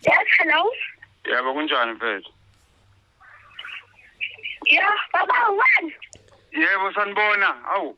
Yes, hello. yebo kunjani mfethu Yeah, baba wani? yebo sanibona awu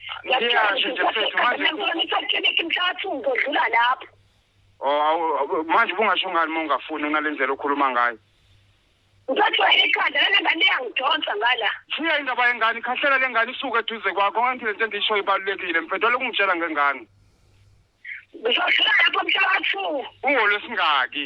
Ngiyasho nje mfethu manje ngisakhileke mhlathi uzodlula lapho. Oh manje bungasho ngani uma ungafuni unalendlela okhuluma ngayo. Ngizojwayela ikhanda lena ngane yangidonsa ngala. Shiya indaba yengane ikhahlela lengane isuke eduze kwakho ngathi lento endisho ibalulekile mfethu lokhu ngitshela ngengane. Ngizodlula lapho mhlathi. Ungolwesingaki?